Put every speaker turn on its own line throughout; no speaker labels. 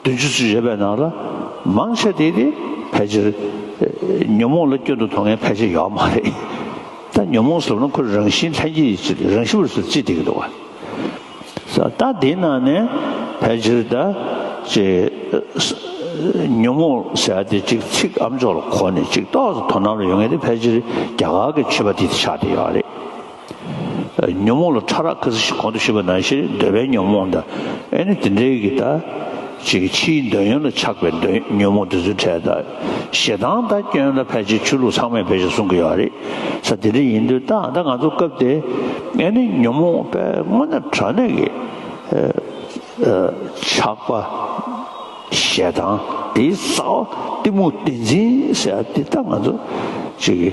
བདུན་ཅུ་ཚུན་བཞེས་པའི་ནང་ལ་མང་ཆེ་དེ་དེ་ཕལ་ཆེར་ཉོན་མོངས་ལ་སྐྱོན་དུ་མཐོང་མཁན་ཕལ་ཆེར་ཡོད་པ་མ་རེད། ད་ཉོན་མོངས་ཟེར་བ་ན་ཁོ་རང་བཞིན་ལྷན་སྐྱེས་ཀྱི་ཆེད་རང་ཞི་བར་སོ་ཅི་དེ་གི་འདུག་བ། ད་དེའི་ནང་ནས་ཕལ་ཆེར་ད་ཅེ་ཉོན་མོངས་ཟེར་བ་དེ་ཅིག་ཚིག་ཨམ་ཅོག་ལ་གོ་ནས་ཅིག་རྟོགས་སུ་དོ་སྣང་ལ་ཡོང་མཁན་དེ་ཕལ་ཆེར་རྒྱ་གར་གྱི་ཆོས་པ་དེ་དེ་ཆགས་བསྡད་ཡོད་བ་རེད། ཉོན་མོངས་ལ་ཕྲ་རགས་ཁ་ཟི་ཞིག་གོང་དུ་ཞུས་པ་ནང་བཞིན་འདོད་པའི་ཉོན་མོངས་དང་ཨེ་ནི་དེ་འདྲའི་གི་དང། ཅིག་གི་ཕྱིའི་འདོད་ཡོན་ལ་ཆགས་པའི་འདོད་ཉོན་མོངས་དེ་ཚོའི་གྲས་དང། ཞེ་སྡང་དང་སྐྱོན་དང་ཕལ་ཆེར་ཆོས་ལུགས་ཚང་མས་བེད་སྤྱོད་གསུང་གི་ཡོད་རེད། ས་དེ་འདྲ་ཡིན་དུས་ད་ལྟ་ང་ཚོ་སྐབས་དེ་ཨེ་ནི་ཉོན་མོངས་པའི་སྔོ་ནད་དྲག་གནས་གི་ཆགས་པ། ཞེ་སྡང་དེའི་རྩ་བ་གཏི་མུག་བདེན་འཛིན་ཟེར་ཡ་དེ་ད་ང་ཚོ་ཅིག་གི།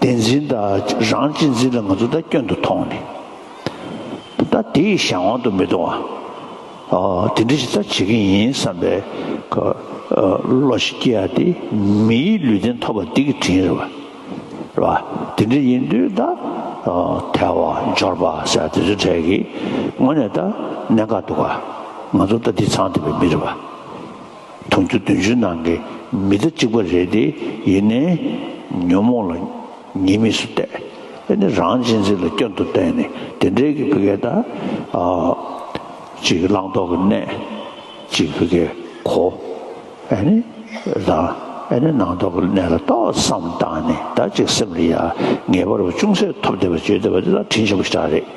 བདེན་འཛིན་དང་རང་གཅེས་འཛིན་ལ་ང་ཚོ་ད་སྐྱོན་དུ་མཐོང་ནས། ད་དེ་ཡི་གཞན་དབང་དུ་མི་གཏོང་བ། དེ་འདྲ་ཞིག་ད་བྱེད་ཀྱི་ཡིན་བསམ་པའི་བློ་ཞིག་སྐྱེ་ཡ་དེ་མིའི་ལུས་རྟེན་ཐོབ་པ་འདི་གི་དྲིན་རེད་བ། རེད་བ། དེ་འདྲ་ཡིན་དུས་ད་ཐལ་བ་འབྱོར་བ་ཟེར་བ་དེ་ཚོའི་གྲས་ཀྱི་ངོ་ནས་ད་གནད་འགག་འདུག་ག། ང་ཚོ་ད་འདི་ཚང་འདི་པའི་མི་རེད་བ། དུང་ཕྱུར་བདུན་ཅུའི་ནང་གི་མི་ད་གཅིག་པ་རེད་དེ་ཡིན་ནའི། ཉོན་མོངས་ལ་ཉེས་དམིགས་སུ་བལྟས། དེ་ནི་རང་གཅེས་འཛིན་ལ་སྐྱོན་དུ་བལྟས་ནས་དེ་འདྲའི་གི་བུ་གའི་ད་གཅིག་བླང་དོར་གི་གནས་གཅིག་བུ་གའི་གོ། ཨེ་ནི་ད་ཨེ་ནི་ནང་དོར་གི་གནས་ལ་ཏོག་བསམ་བཏང་ནས་ད་གཅིག་སེམས་ལ་ཡ་ངས་པར་བ་ཅུང་ཟད་ཐོབ་བསྡད་པ་བརྗོད་བསྡད་པ་འདི་ལ་དྲིན་ཆེན་པོ་ཞེ་དྲག་རེད།